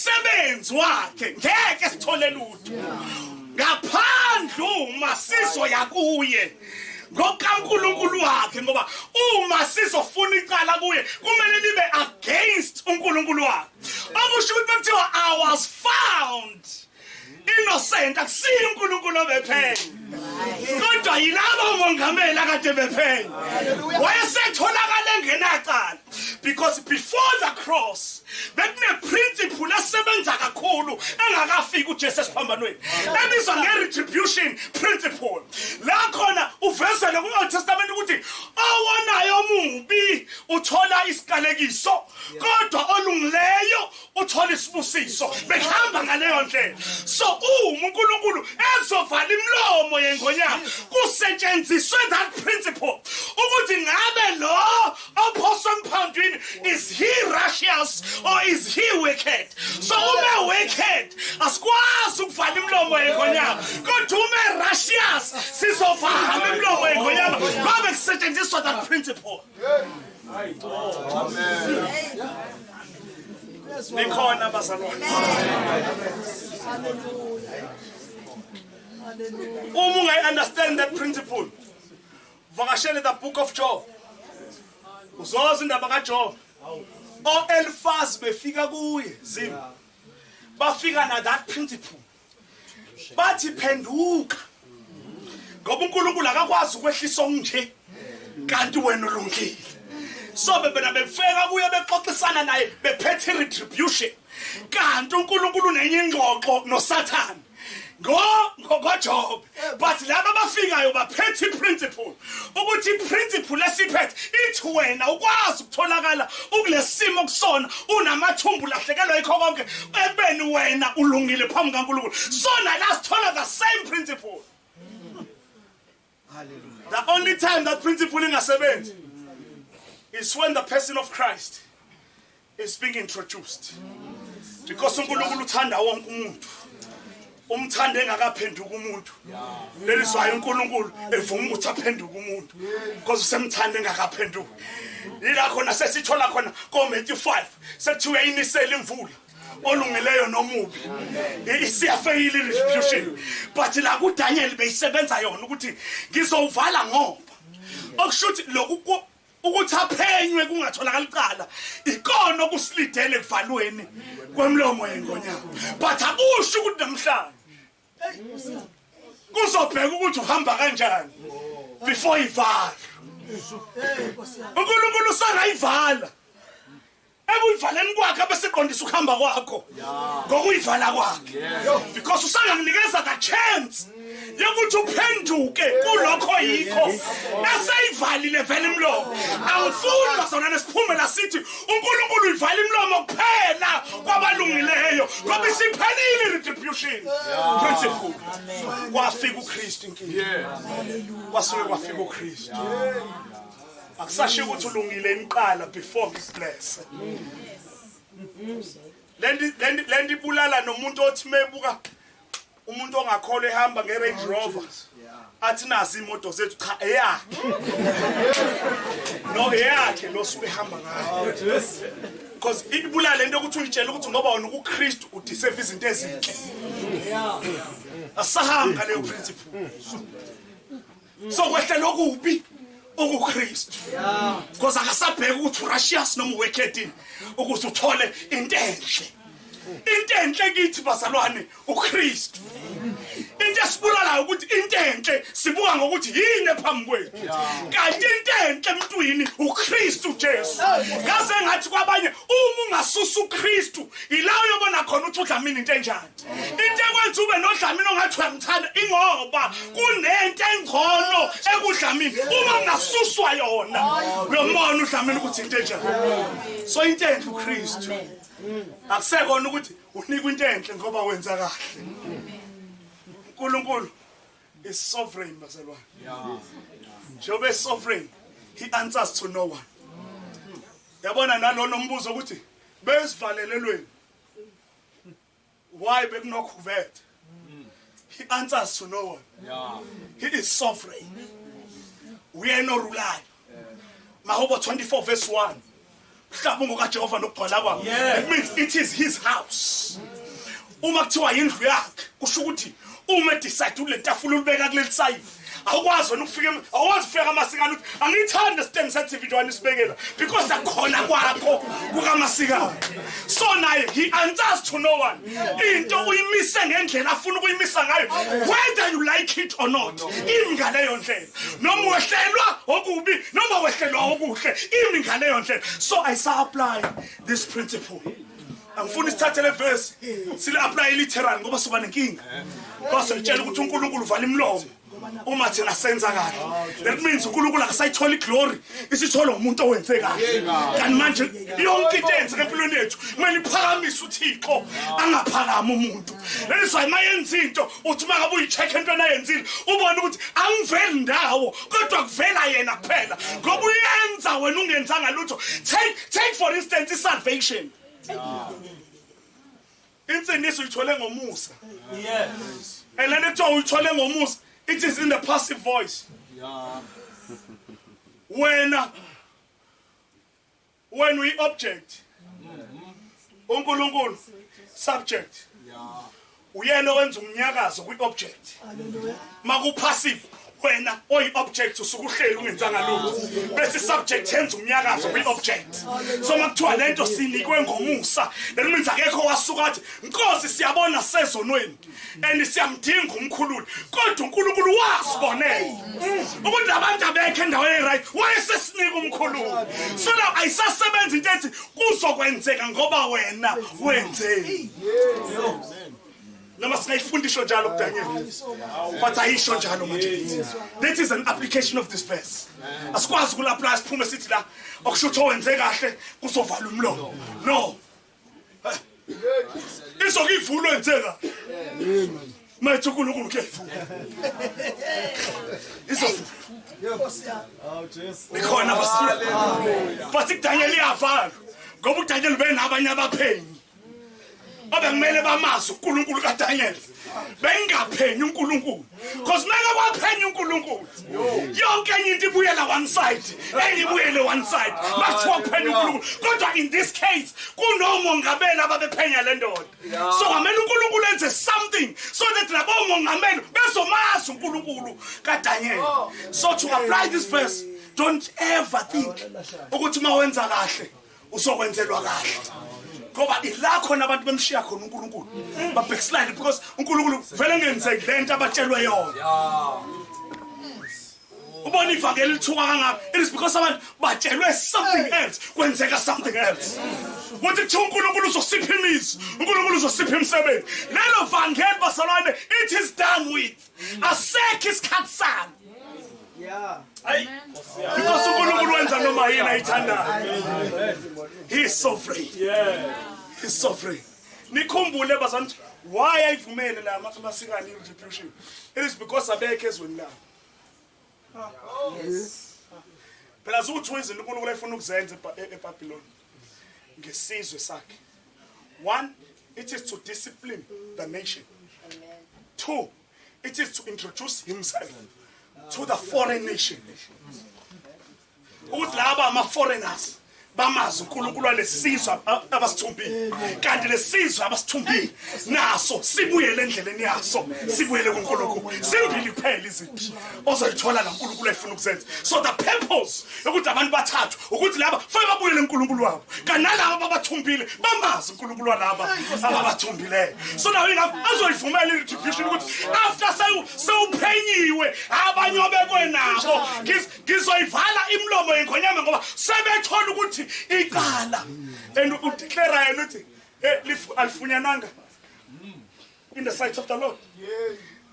umsebenzi wakhe ngeke sithole lutho ngaphandle uma sizoya kuye ngokaNkulunkulu wakhe ngoba uma sizofuna icala kuye kumele libe against uNkulunkulu wakhe okusho ukuthi kuthiwa i was found innocent akusiye uNkulunkulu obephenya kodwa yilabo mongameli akade bephenya wayesetholakala engenacala because before the cross bekuneprinciple esebenza kakhulu engakafiki uJesu esiphambanweni ebizwa ngeretribution principle la khona uvezele ku-old testament ukuthi owonayo omubi uthola isikalekiso kodwa olungileyo uthola isibusiso behamba ngaleyo ndlela so uma uNkulunkulu ezovala imlomo yengonyama kusetshenziswe that principle ukuthi ngabe lo ophoswe emphandwini is he righteous or is he wicked so uma wicked asikwazi ukuvala imlomo yengonyama kodwa uma righteous sizovala imlomo yengonyama ngoba kusetshenziswa that principle Amen. nikhona bazalwane uma ungayi-understand that principle vakashele the book of job uzoza indaba kajob o-elifaz befika kuye zim bafika na that principle bathi phenduka ngoba uNkulunkulu akakwazi ukwehlisa okunje kanti wena ulungile so bebena befeka kuye bexoxisana naye bephethe retribution kanti uNkulunkulu nenye ingxoxo noSathane ngo ngoJob but laba abafikayo baphethe iprinciple ukuthi iprinciple esiphethe ithi wena ukwazi ukutholakala ukulesimo kusona unamathumbu lahlekelwa ikho konke ekubeni wena ulungile phambi kaNkulunkulu sona la sithola the same principle hallelujah the only time that principle ingasebenzi is when the person of Christ is being introduced because uNkulunkulu uthanda wonke umuntu umthanda engakaphenduka umuntu leli zwayo uNkulunkulu evuma ukuthi aphenduke umuntu because usemthanda engakaphenduki yila khona sesithola khona koMatthew 5 sekuthiwa inisela imvula olungileyo nomubi isiyafeyile retribution but la kuDaniel beyisebenza yona ukuthi ngizowuvala ngoba okushuthi lokhu ukuthi aphenywe kungatholakala icala ikona okusilidele ekuvalweni kwemlomo yengonyama but akusho ukuthi namhlanje kuzobheka ukuthi uhamba kanjani before ivala unkulunkulu usangayivala ekuyivaleni kwakhe abeseqondisa ukuhamba kwakho ngokuyivala kwakhe because usangakunikeza ka chance yokuthi uphenduke kulokho yikho eseyivalile vele imlomo angifuni bazona nesiphumela sithi uNkulunkulu uyivala imlomo kuphela kwabalungileyo ngoba isiphelile retribution principle kwafika uKristu inkinga kwasuke kwafika uKristu akusashiyo ukuthi ulungile imqala before ngiblesse lendi lendi lendi bulala nomuntu othi mebuka umuntu ongakholwa ehamba ngeRange Rover athi nazi imoto zethu cha eyakhe no eyakhe lo suke ehamba ngayo because ibulala lento ukuthi uyitshela ukuthi ngoba wona ukuKristu udiserve izinto ezinhle asahamba leyo principle sokwehlela okubi okuKristu because akasabheki ukuthi urashious noma uwekhetini ukuthi uthole into enhle into enhle kithi bazalwane uKristu into esibulalayo ukuthi into enhle sibuka ngokuthi yini ephambi kwethu kanti into enhle emntwini uKristu Jesu ngaze ngathi kwabanye uma ungasusa uKristu ila uyobona khona ukuthi udlamini into enjani into ekwenza ube nodlamini ongathi uyamthanda ingoba kunento engcono ekudlamini uma ngasuswa yona lo mona udlamini ukuthi into enjani so into enhle ukristu akusekona ukuthi unikwa into enhle ngoba wenza kahle unkulunkulu is sovereign bazalwane njengoba esovereign he answers to no one yabona nalona umbuzo ukuthi besivalelelweni why bekunokhuvethe he answers to no one yeah. he is sovereign uyena orulayo mahubo 24 verse 1 mhlawumbe kajehova nokugcwala kwakhe it means it is his house uma kuthiwa yindlu yakhe kusho ukuthi uma decide ulentafula ulibeka kuleli sayini awukwazi wena ukufika awukwazi ufika kamasikana uthi angiyithandi stand sa TV nje wanisibekela because akhona kwakho kukamasika so naye he answers to no one into uyimise ngendlela afuna ukuyimisa ngayo whether you like it or not imi ngaleyo ndlela noma wehlelwa okubi noma wehlelwa okuhle imi ngaleyo ndlela so i sa apply this principle angifuni sithathe le verse sile apply literal ngoba soba nenkinga base ngitshela ukuthi uNkulunkulu uvala imlomo uma thina senza kahle that means uNkulunkulu akasayitholi glory isithola umuntu owenze kahle kanti manje yonke into eyenzeka empilweni yethu kumele iphakamise uThixo angaphakama umuntu that is why mayenza into uthi makabe uyicheck into ayenzile ubone ukuthi angiveli ndawo kodwa kuvela yena kuphela ngoba uyenza wena ungenzanga lutho take take for instance isalvation insindiso uyithole ngomusa yes and lento kuthiwa uyithole ngomusa it is in the passive voice yeah wena wena uyi-object unkulunkulu subject uyena owenza umnyakazo kwi-object makupassive wena oyi-object usuke uhleli ungenzanga lutho bese i-subject yenza umnyakazo kwi-object so uma kuthiwa le nto sinikwe ngomusa that means akekho wasuka athi nkosi siyabona sezonweni and siyamdinga umkhululi kodwa unkulunkulu wasibonela ukuthi abantu abekho endaweni eyi-right wayesesinika umkhululi so now ayisasebenzi into ethi kuzokwenzeka ngoba wena wenzeni noma singayifundisho njalo kudanyela but ayisho njalo manje that is an application of this verse asikwazi ukulaplaya siphume sithi la okusho ukuthi owenze kahle kuzovala umlomo no izoke ivulwe nsela mayithi unkulunkulu kuyayivula izovula ikhona basiya bathi kudanyela iyavalwa ngoba udanyela ubenabanye abaphenyi abekumele bamazi unkulunkulu kadanyela bengingaphenyi uNkulunkulu because mele kwaphenya uNkulunkulu yonke enye into ibuyela one side engibuyele one side bathiwa kuphenya uNkulunkulu kodwa in this case kunomongameli ababephenya le ndoda so ngamele uNkulunkulu enze something so that labo mongameli bezomazi uNkulunkulu kaDaniel oh. so to apply this verse don't ever think ukuthi uma wenza kahle uzokwenzelwa kahle ngoba ila khona abantu bemshiya khona uNkulunkulu babhekisilane because uNkulunkulu vele ngenzeki lento abatshelwe yona ubona ivangeli lithuka kangaka it is because abantu batshelwe something else kwenzeka something else kuthi kuthiwa unkulunkulu uzosipha imizi unkulunkulu uzosipha imisebenzi lelo vangeli basalwane it is done with asekho isikhathi salo hayi because unkulunkulu wenza noma yini ayithandayo he is so free he is so free nikhumbule bazantu why ayivumele la masikani retribution it is because abekho ezweni labo phela zukuthi wenzile unkulunkulu ayifuna ukuzenza ebhabhiloni ngesizwe sakhe one it is to discipline the nation two it is to introduce himself to the foreign nation ukuthi laba ama foreigners bamazi uNkulunkulu walesizwe abasithumbile kanti lesizwe abasithumbile naso sibuyele endleleni yaso sibuyele kuNkulunkulu simbili kuphela izinto ozoyithola la uNkulunkulu ayifuna ukuzenza so the purpose yokuthi abantu bathathwe ukuthi laba fanele babuyele uNkulunkulu wabo kanalabo ababathumbile bamazi uNkulunkulu walaba ababathumbileyo so nawe ingakho azoyivumela i-retribution ukuthi after sewuphenyiwe abanye obekwe nabo ngizoyivala imilomo yenkhonyama ngoba sebethola ukuthi icala and udeclara yena ukuthi eh, alifunyananga in the sight of the lord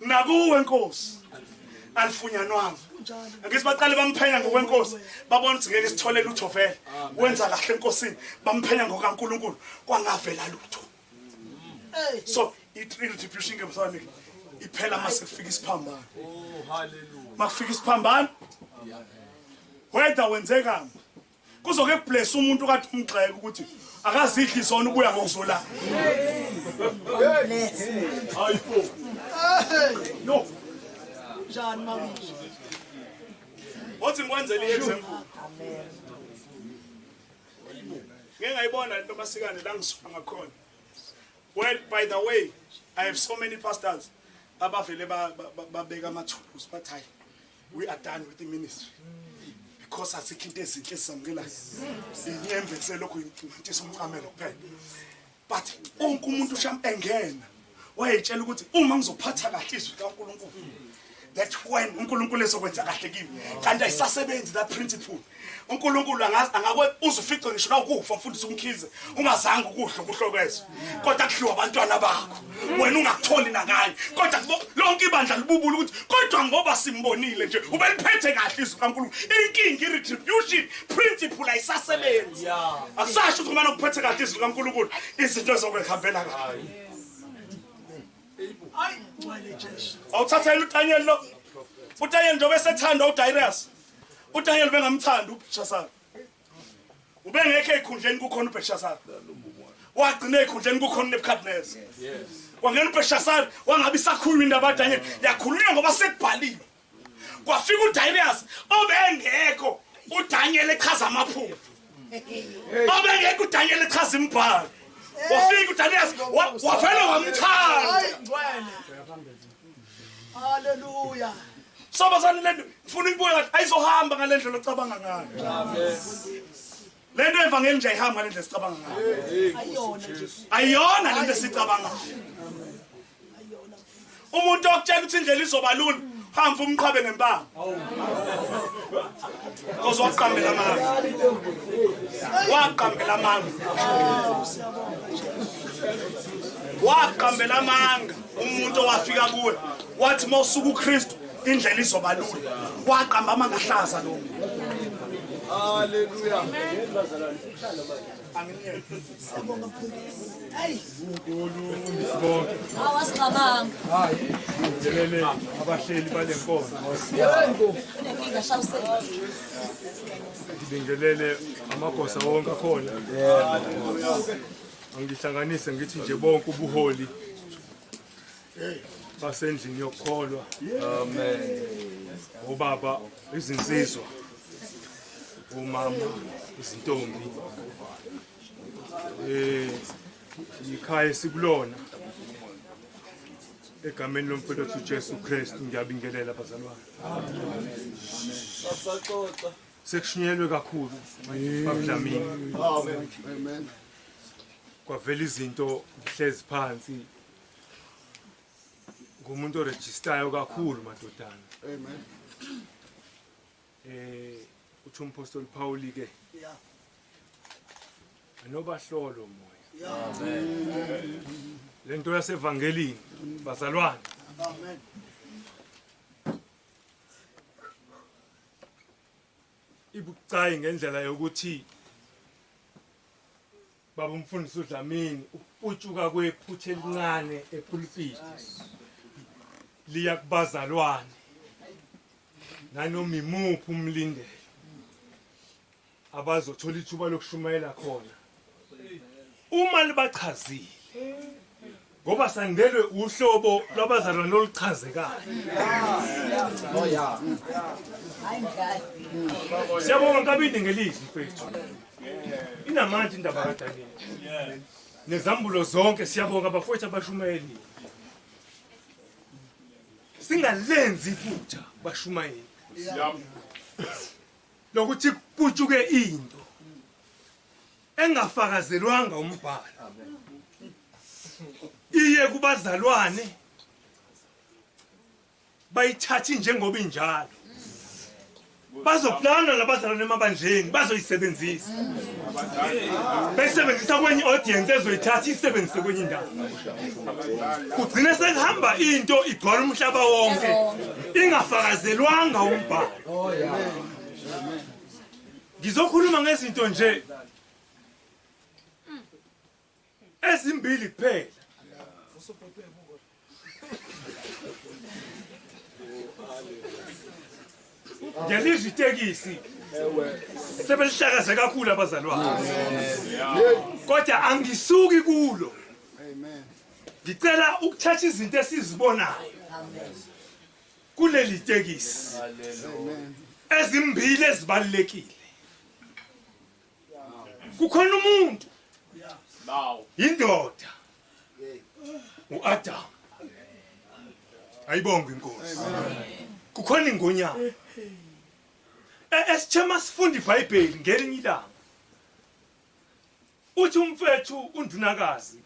nakuwe nkosi alifunyanwanga ngithi baqale bamphenya ngokwenkosi babona ukuthi ngeke sithole lutho vele wenza kahle enkosini bamphenya ngokaNkuluNkulu kwangavela lutho so i-retribution ke msane iphela mase kufika isiphambano oh haleluya makufika isiphambano whether wenzekani kuzoke kubless umuntu kathi umgxeke ukuthi akazidli zona ubuya ngokuzolala hayibo no njani mawuthi othi ngikwenzele i-example ngeke ngayibona lento masikane la ngisuka ngakhona well by the way i have so many pastors abavele babeka amathulusi bathi hayi we are done with the ministry because asikho into ezinhle ezisamukelayo inyembese lokhu intisa umcamelo kuphela but onke umuntu sham engena wayetshela ukuthi uma ngizophatha kahle izwi likaNkulunkulu that when uNkulunkulu ezokwenza kahle kimi kanti ayisasebenzi that principle uNkulunkulu angazi angakwe uzufice ngisho na ukufa mfundisi umkhize ungazange ukudla ukuhlokwezo kodwa kudliwa abantwana bakho wena ungakutholi nakanye kodwa lonke ibandla libubula ukuthi kodwa ngoba simbonile nje ubeliphethe kahle izwi kaNkulunkulu inkingi retribution principle ayisasebenzi akusasho ukuthi uma ukuphethe kahle izwi kaNkulunkulu izinto zokuhambela kahle awuthathela utanyelo lo utanyelo njengoba esethanda uDarius uDaniel bengamthanda uBelshazar ubengekho ekhundleni kukhona uBelshazar wagcina ekhundleni kukhona uNebukadnezar wangena uBelshazar wangabe isakhuluma indaba kaDaniel yakhulunywa ngoba sekubhaliwe kwafika uDarius obengekho uDaniel echaza amaphupho obengekho uDaniel echaza imibhalo wafika uDarius wavele wamthanda haleluya Sobazani lento ngifuna uyibuke kahle ayizohamba ngale ndlela ocabanga ngayo. Lento evangeli nje ayihamba ngale ndlela sicabanga ngayo. Ayona nje. Ayona lento sicabanga. Ayona. Umuntu okutshela ukuthi indlela izoba lula hamba umqhabe ngempama. Kozo waqambela amanga. Waqambela amanga. Waqambela amanga. umuntu owafika kuwe wathi uma usuka ukristu indlela izoba lula waqamba amangahlaza lo haleluya abahleli bale nkonzo ngibingelele amagosa wonke akhona Angihlanganise ngithi nje bonke ubuholi basendlini yokukholwa amen ubaba izinsizwa umama izintombi eh ikhaya esikulona egameni lomfowethu uJesu Kristu ngiyabingelela bazalwane amen saxoxa sekushunyelwe kakhulu babudlamini amen kwavela izinto ngihlezi phansi ngumuntu orejistayo kakhulu madodana amen eh uthi umpostoli Paul ke yeah anobahlolo moya amen lento yasevangelini bazalwane amen ibucayi ngendlela yokuthi baba umfundisi uDlamini ukuputshuka kwephutha elincane epulpiti liya kubazalwane nanoma imuphi umlindelo abazothola ithuba lokushumayela khona uma libachazile ngoba sandelwe uhlobo lwabazalwane oluchazekayo siyabonga kabindi ngelizwi mfethu inamandla indaba kadaniel nezambulo zonke siyabonga abafowethu abashumayeli singalenzi iphutha bashumayeli lokuthi kuputshuke into engafakazelwanga umbhalo iye kubazalwane bayithathi njengoba injalo bazoplana labazalwane emabandleni bazoyisebenzisa besebenzisa kwenye audience ezoyithatha isebenzise kwenye indawo kugcine sekuhamba into igcwala umhlaba wonke ingafakazelwanga umbhalo Ngizokhuluma ngezinto nje ezimbili kuphela. Ngiyalizwa itekisi. Sebelihlakaze kakhulu abazalwane. Kodwa angisuki kulo. Amen. Ngicela ukuthatha izinto esizibonayo. Amen. kuleli tekisi ezimbili ezibalulekile kukhona umuntu indoda uAdam ayibonga inkosi kukhona ingonyama e, esithema sifunda iBhayibheli ngelinye ilanga uthi umfethu undunakazi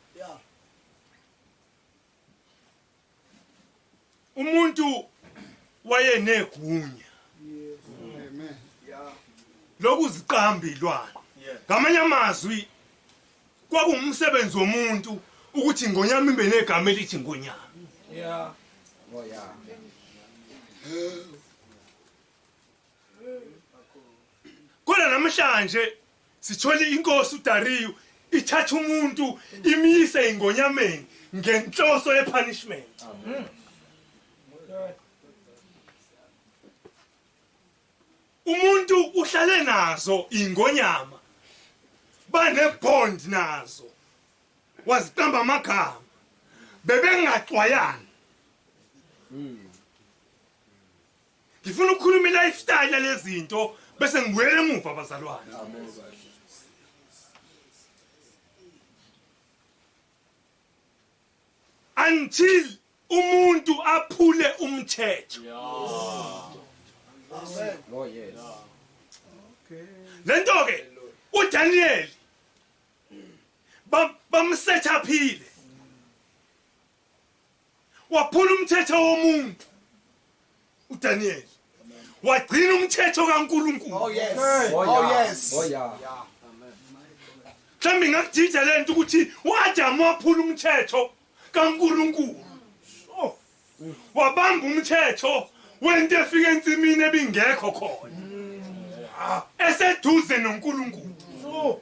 umuntu wayenegunya lokuziqamba ilwane ngamanye amazwi kwakuwumsebenzi womuntu ukuthi ingonyama ibe negama elithi ingonyama oh, kodwa namhlanje Sithole inkosi uDariyu ithatha umuntu imyise ingonyameni ngenhloso yepunishment. Umuntu uhlale nazo ingonyama bane bond nazo waziqamba amagama bebengaxwayani. Ngifuna ukukhuluma i-lifestyle yalezinto bese ngibuyela emuva abazalwane. Until umuntu aphule umthetho. Amen. Oh yes. Okay. Lento ke uDaniel bamsethaphile waphula umthetho womuntu uDaniel wagcina umthetho kaNkuluNkulu oh yes oh, oh yes oh yeah mhlawumbe ngakudida le nto ukuthi uAdamu waphula umthetho kaNkuluNkulu oh. wabamba umthetho wento efika ensimini ebingekho khona mm. eseduze noNkuluNkulu oh.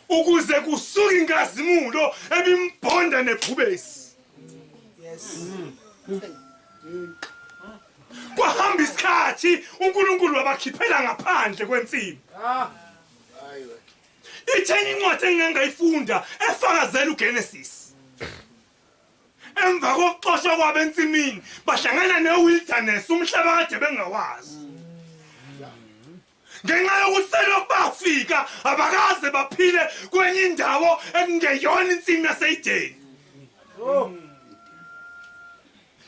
ukuze kusuke inkazimulo ebimbhonda nebhubesi kwahamba isikhathi uNkulunkulu wabakhiphela ngaphandle kwensimu itheni incwadi engingangayifunda efakazela uGenesis emva kokuxoshwa kwabo ensimini bahlangana newilderness umhlaba kade bengawazi ngenxa yokuthi selokhu bafika abakaze baphile kwenye indawo ekungeyona insimu yaseyideni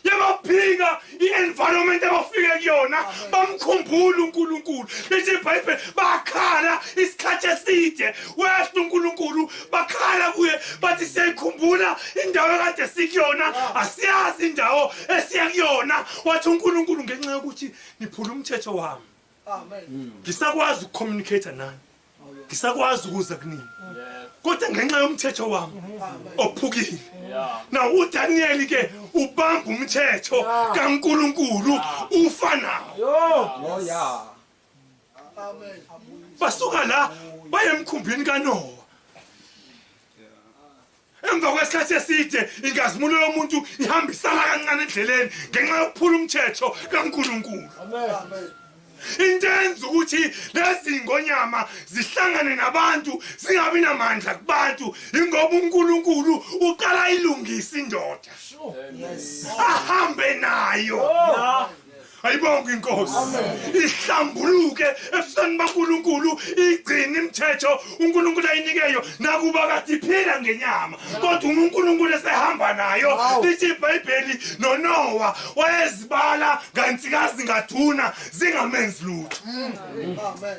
yabaphika i-environment abafike kuyona bamkhumbula unkulunkulu lithi ibhayibheli bakhala isikhathi eside wehla unkulunkulu bakhala kuye bathi siyayikhumbula indawo ekade sikuyona asiyazi indawo esiya kuyona wathi unkulunkulu ngenxa yokuthi niphula umthetho wami ngisakwazi ukucommunicate nani ngisakwazi ukuza kunini kodwa ngenxa yomthetho wami ophukile na udaniyeli ke ubamba umthetho kankulunkulu ufa nawo basuka la bayemkhumbini kanowa emva kwesikhathi eside inkazimulo yomuntu ihambisana kancane endleleni ngenxa yokuphula umthetho kaNkulunkulu into enza ukuthi lezi ngonyama zihlangane nabantu zingabi namandla kubantu ingoba uNkulunkulu uqala ilungisa indoda ahambe nayo oh. ayibonge inkosi ihlambuluke ebusweni bankulunkulu igcine imithetho unkulunkulu ayinikeyo nakuba kade iphila ngenyama kodwa uma unkulunkulu esehamba nayo lithi ibhayibheli nonowa wayezibala ngantikazi ngathuna zingamenzi lutho mm. Amen.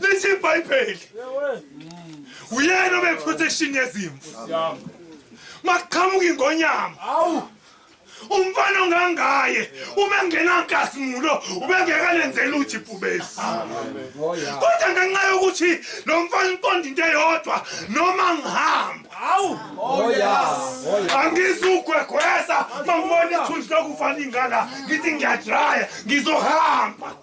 Lithi iBhayibheli uyena obe protection yezimvu. Maqhamuka ingonyama. Awu umfana ongangaye uma engenankazimulo ubengekalenzela uthi ibhubesi kodwa ngenxa yokuthi lo mfana uqonda into eyodwa noma ngihamba hawu angizugwegwesa mangibona ithunzi lokufa lingala ngithi ngiyadraya ngizohamba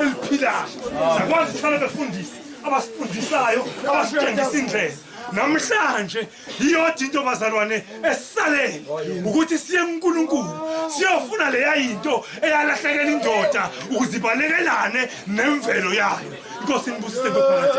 eliphilayo sakwazi ukuhlala befundisi abasifundisayo abasitshengisa indlela namhlanje yiyodwa into bazalwane esisalele ukuthi siye kuNkulunkulu siyofuna leya into eyalahlekela indoda ukuze ibalekelane nemvelo yayo inkosi inibusise ngophakathi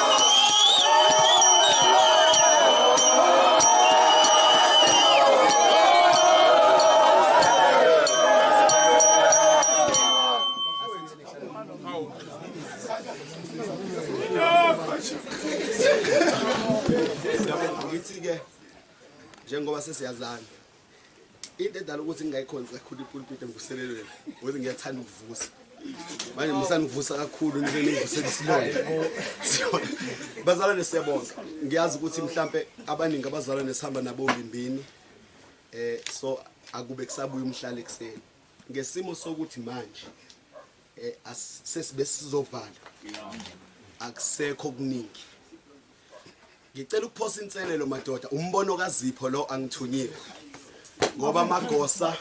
ngithi-ke njengoba sesiyazana into edala ukuthi ngingayikhonzi kakhulu ipulpiti engivuselelweni ukuthi ngiyathanda ukuvusa manje musani kuvusa kakhulu nivusela isilonda bazalwane siyabonga ngiyazi ukuthi mhlampe abaningi abazalwane sihamba nabo ngimbini eh so akube kusabuya umhlala ekuseni ngesimo sokuthi manje eh sesibe sizovala akusekho kuningi Ngicela ukuphosa inselelo madoda, umbono kaZipho lo angithunyile. Ngoba amagosa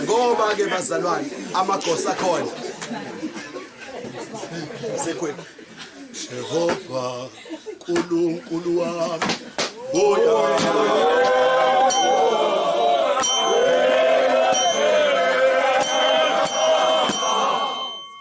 Ngoba ke bazalwane amagosa khona. Sekhweni. Jehova uNkulunkulu wami. Oh yeah.